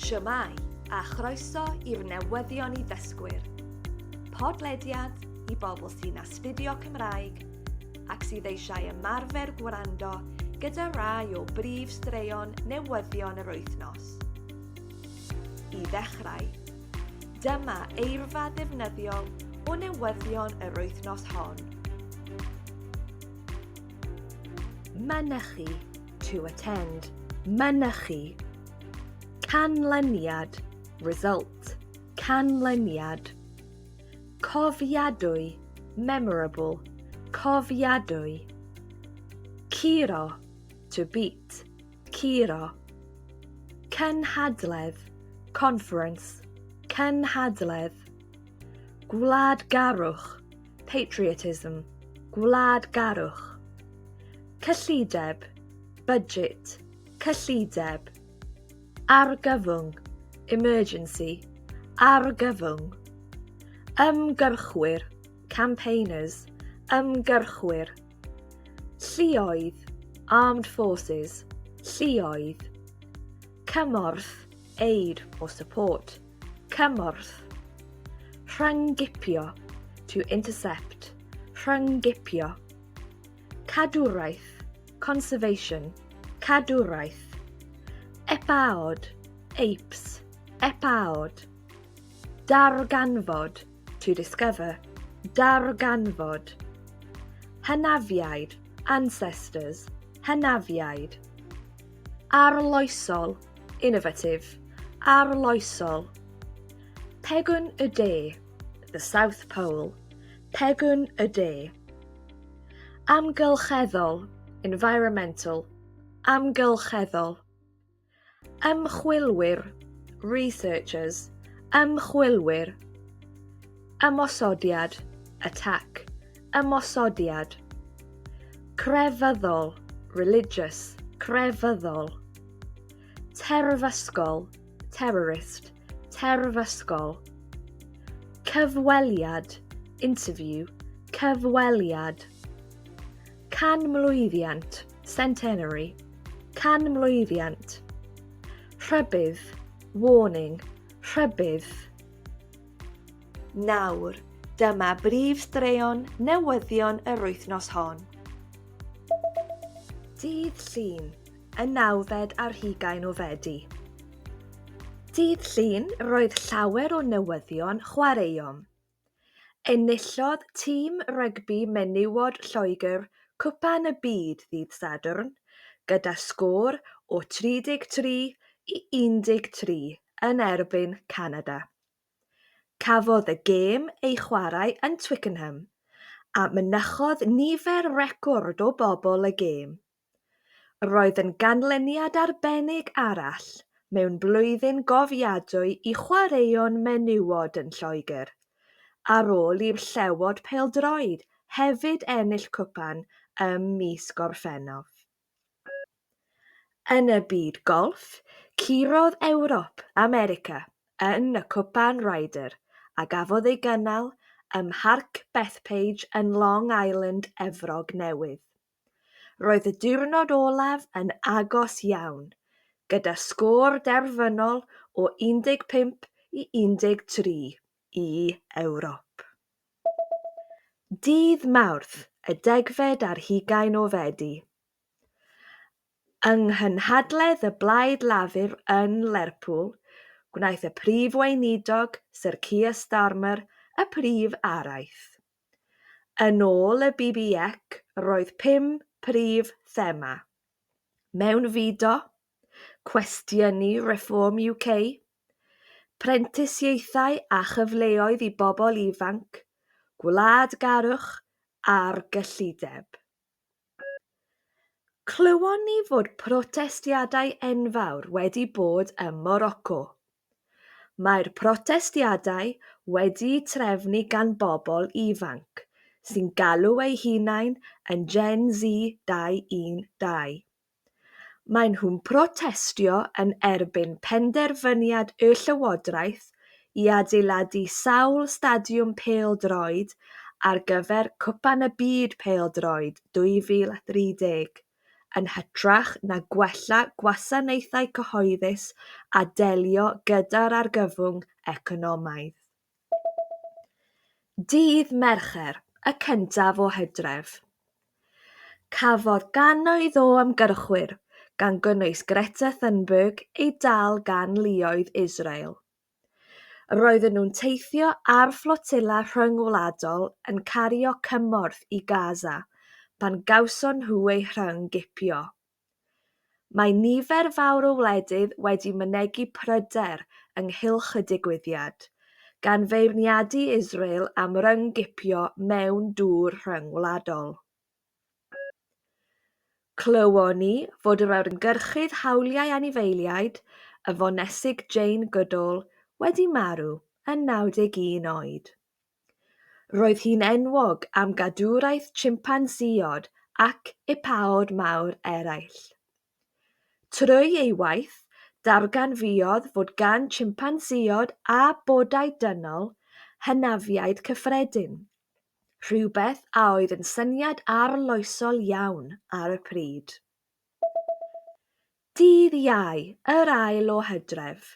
Shwmae, a chroeso i'r newyddion i ddysgwyr. Podlediad i bobl sy'n astudio Cymraeg ac sydd eisiau ymarfer gwrando gyda rai o brif straeon newyddion yr wythnos. I ddechrau, dyma eirfa ddefnyddiol o newyddion yr wythnos hon. Mynychu, to attend, mynychu, canlyniad, result, canlyniad, cofiadwy, memorable, cofiadwy, curo, to beat, curo, cynhadledd, conference, cynhadledd, gwladgarwch, patriotism, gwladgarwch, cyllideb, budget, cyllideb, argyfwng, emergency, argyfwng, ymgyrchwyr, campaigners, ymgyrchwyr, lluoedd, armed forces, lluoedd, cymorth, aid or support. Cymorth. Rhyng-gipio, to intercept. Rhyng-gipio. Cadwraeth, conservation. Cadwraeth. Epaod, apes. Epaod. Darganfod, to discover. Darganfod. Hynafiaid, ancestors. Hynafiaid. Arloesol, Innovative, arloesol. Pegwn y de, the South Pole, pegwn y de. Amgylcheddol, environmental, amgylcheddol. Ymchwilwyr, researchers, ymchwilwyr. Ymosodiad, attack, ymosodiad. Crefyddol, religious, crefyddol. Terfysgol, terrorist, terfysgol. Cyfweliad, interview, cyfweliad. Canmlwyddiant, centenary, canmlwyddiant. Rhybydd, warning, rhybydd. Nawr, dyma brif straeon newyddion yr wythnos hon. Dydd Llun, y nawfed ar hugain o Fedi. Dydd Llun, roedd llawer o newyddion chwaraeon. Enillodd tîm rygbi menywod Lloegr Cwpan y Byd ddydd Sadwrn gyda sgôr o 33 i 13 yn erbyn Canada. Cafodd y gêm ei chwarae yn Twickenham a mynychodd nifer record o bobl y gêm. Roedd yn ganlyniad arbennig arall mewn blwyddyn gofiadwy i chwaraeon menywod yn Lloegr, ar ôl i'r Llewod Pêl-droed hefyd ennill cwpan ym mis Gorffennaf. Yn y byd golff, curodd Ewrop America yn y Cwpan Ryder a gafodd ei gynnal ym Mharc Bethpage yn Long Island, Efrog Newydd. Roedd y diwrnod olaf yn agos iawn, gyda sgôr derfynol o 15 i 13. i Ewrop. Dydd Mawrth y degfed ar hugain o Fedi, yng nghynhadledd y Blaid Lafur yn Lerpwl, gwnaeth y Prif Weinidog, Syr Keir Starmer, y prif araith. Yn ôl y BBEC roedd pum prif thema, mewnfudo, cwestiynu Reform UK, prentisiaethau a chyfleoedd i bobl ifanc, gwladgarwch a'r gyllideb. Clywon ni fod protestiadau enfawr wedi bod ym Moroco. Mae'r protestiadau wedi'u trefnu gan bobl ifanc sy'n galw eu hunain yn Gen Z 212. Maen nhw'n protestio yn erbyn penderfyniad y llywodraeth i adeiladu sawl stadiwm pêl-droed ar gyfer Cwpan y Byd Pêl-droed 2030, yn hytrach na gwella gwasanaethau cyhoeddus a delio gyda'r argyfwng economaidd. Dydd Mercher, y cyntaf o Hydref. Cafodd gannoedd o ymgyrchwyr, gan gynnwys Greta Thunberg, eu dal gan luoedd Israel. Roedden nhw'n teithio ar fflotilla rhyngwladol yn cario cymorth i Gaza pan gawson nhw eu rhyng-gipio. Mae nifer fawr o wledydd wedi mynegi pryder ynghylch y digwyddiad, gan feirniadu Israel am ryng-gipio mewn dŵr rhyngwladol. Clywon ni fod yr ymgyrchydd hawliau anifeiliaid, y fonesig Jane Goodall, wedi marw, yn 91 oed. Roedd hi'n enwog am gadwraeth chimpanzeod ac ipaod mawr eraill. Trwy ei waith, darganfuodd fod gan chimpanzeod a bodau dynol hynafiaid cyffredin, rhywbeth a oedd yn syniad arloesol iawn ar y pryd. Dydd Iau, yr ail o Hydref.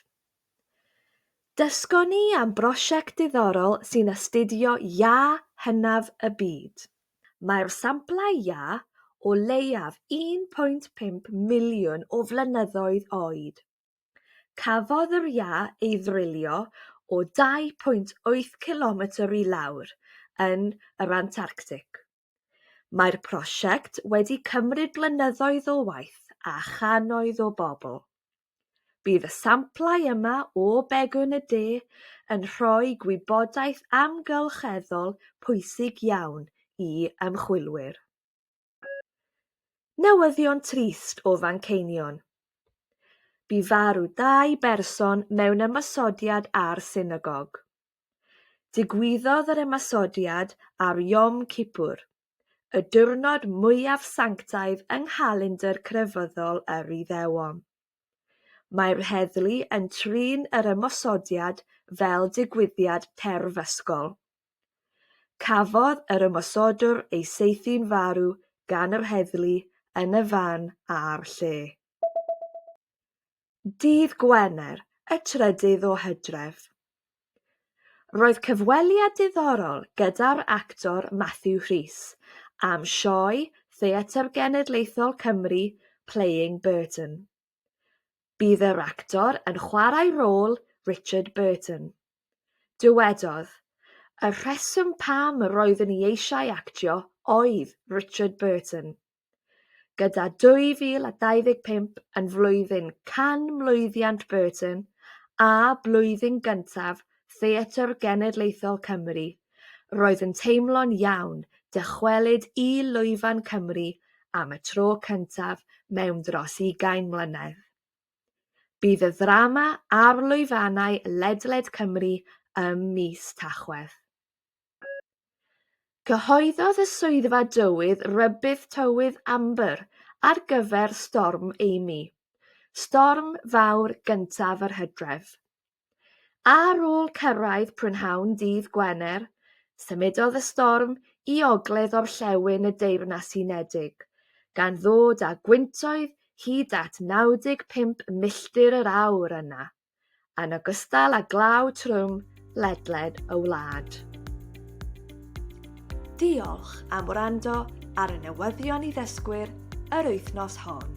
Dysgon ni am brosiect diddorol sy'n astudio iâ hynaf y byd. Mae'r samplau iâ o leiaf 1.5 miliwn o flynyddoedd oed. Cafodd yr iâ ei ddrylio o 2.8 cilometr i lawr yn yr Antarctig. Mae'r prosiect wedi cymryd blynyddoedd o waith a channoedd o bobl. Bydd y samplau yma o Begwn y De yn rhoi gwybodaeth amgylcheddol pwysig iawn i ymchwilwyr. Newyddion trist o Fanceinion. Bu farw dau berson mewn ymosodiad ar synagog. Digwyddodd yr ymosodiad ar Yom Kippur, y diwrnod mwyaf sanctaidd yng nghalendr crefyddol yr Iddewon. Mae'r heddlu yn trin yr ymosodiad fel digwyddiad terfysgol. Cafodd yr ymosodwr ei saethu'n farw gan yr heddlu yn y fan a'r lle. dydd Gwener y trydydd o Hydref. Roedd cyfweliad diddorol gyda'r actor Matthew Rhys am sioe Theatr Genedlaethol Cymru Playing Burton. Bydd yr actor yn chwarae rôl Richard Burton. Dywedodd, Y rheswm pam roeddwn i eisiau actio oedd Richard Burton. Gyda 2025 yn flwyddyn canmlwyddiant Burton a blwyddyn gyntaf Theatr Genedlaethol Cymru, roedd yn teimlo'n iawn dychwelyd i lwyfan Cymru am y tro cyntaf mewn dros ugain mlynedd. Bydd y ddrama ar lwyfannau ledled Cymru ym mis Tachwedd. Cyhoeddodd y Swyddfa Dywydd Rybudd Tywydd Amber ar gyfer Storm Amy, storm fawr gyntaf yr hydref. Ar ôl cyrraedd prynhawn dydd Gwener, symudodd y storm i ogledd-orllewin y Deyrnas Unedig, gan ddod â gwyntoedd hyd at 95 milltir yr awr yna. yn ogystal â glaw trwm ledled y wlad. Diolch am wrando ar y newyddion i ddysgwyr yr wythnos hon.